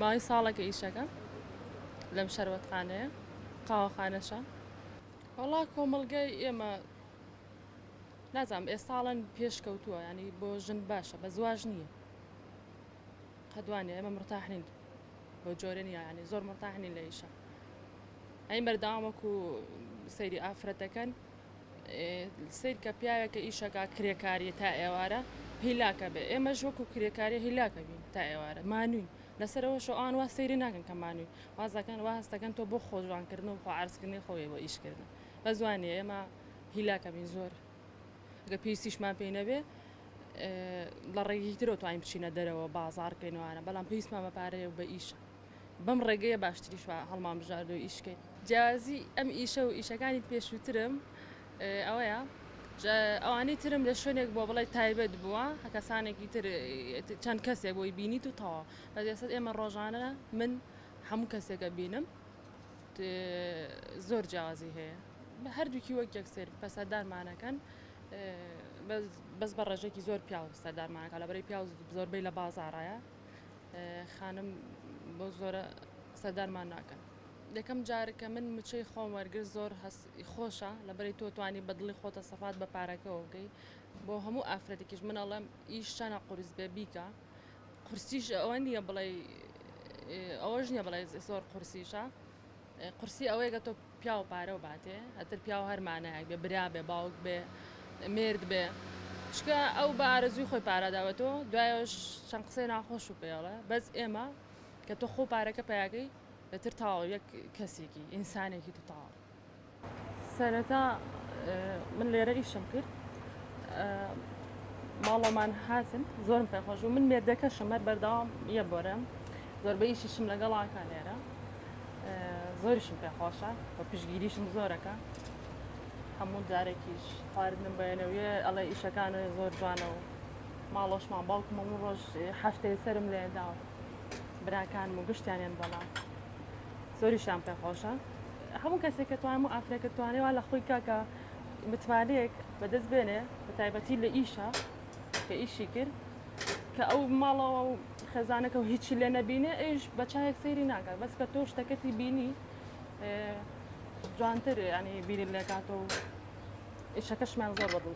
ماوەی ساڵێکە ئیشەکەم لەم شەربەتخانەیە قاوەخانەشە وەڵا کۆمەڵگای ئێمە نازانم ئێستاڵەن پێشکەوتووە ینی بۆ ژن باشە بە زواژ نییە قەدوانێ ئێمە مرتاحنین بۆ جۆرە نییە ینی زۆر مرتاحنین لە ئیشە ئەی بەردەوام وەکو سەیری ئافرەتەکەن سیر کە پیاوێکە ئیشەکە کرێکاریە تا ئێوارە هیلاکە بێ ئێمەش وەکو کرێکاری هیلاکە بین تا ئێوارە مانوین لەسەرەوە شەوان وا سەیری ناکەن کە مانوی وازەکەن وا هەستەکەن تۆ بۆ خۆجوانکردن و خۆعرزکردنی خۆی بۆ ئیشکردن بە زوانی ئێمە هیلاکە بین زۆر گە پێویستیشمان پێی نەبێ لە ڕێگی ترۆ توانین بچینە دەرەوە بازار کەینوانە بەڵام پێویستمان بە پارەیە بە ئیشە بەم ڕێگەیە باشتریش هەڵمان بژارد و ئیش کەین. جیازی ئەم ئیشە و ئیشەکانی پێشووترم ئەوەیە ئەوانەی ترم لە شوێنێک بۆ بڵێ تایبەت بووە کەسانێکی تر چەند کەسێک بۆی بینیت و تەوا بەدەسەت ئێمە ڕۆژانە من هەموو کەسێکە بینم زۆر جیازی هەیە بە هەردووکی وەک یەکسێر پەسەدارمانەکەن بەس بە ڕێژێکی زۆر پیاو سەردارمانەکە لە بەری پیاو زۆربەی لە بازارایە خانم بەو زۆرە سەردانمان ناکەن. یەکەم جار کە من مچەی خۆم وەرگرت زۆر هەست خۆشە لەبەری تۆ توانی بە دڵی خۆتە سەفات بە پارەکەوە بکەی بۆ هەموو ئافرەتێکیش من ئەڵێم ئیش چەنە قورس بێ بیکە قورسیش ئەوە نییە بڵێ ئەوەش نیە بڵێ زۆر قورسیشە قورسی ئەوەیە کە تۆ پیاو پارە و باتێ ئەتر پیاو هەر مانایەک بێ برا بێ باوک بێ مێرد بێ چکە ئەو بە ئارەزوی خۆی پاراداوە تۆ دوایش چەند قسەی ناخۆش و پێڵە بەس ئێمە کە تۆ خۆ پارەکە پیاکەی ئەتر تاو یەک کەسێکی ئینسانێکی تو تاوە سەرەتا من لێرە ئیشم کرد ماڵەمان هاتن زۆرم پێخۆش و من مێردەکەشم هەر بەردەوام یە بۆرم زۆربەیشیشم لەگەڵاکە لێرە زۆریشم پێ خۆشە بە پشگیریشم زۆرەکە هەموو جارێکیش خواردنم بەێنەوە ئەڵێ ئیشەکانە زۆر جوانە و ماڵۆشمان باوکم و ڕۆژ هەفتەی سرم لێدا و براکان و گشتیانیان بەڵام زۆریشان پێ خۆشە هەموو کەسێک کە توانم و ئافرەکە توانێ وا لە خۆی کاکە متمانەیەک بەدەست بێنێ بە تایبەتی لە ئیشە کە ئیشی کرد کە ئەو ماڵەوە و خێزانەکە و هیچی لێ نەبینێ ئەوش بە چاهێک سەیری ناکات بەس کە تۆ شتەکەتی بینی جوانتر ینی بیری لێکات و ئیشەکەشمان زۆر بەدڵ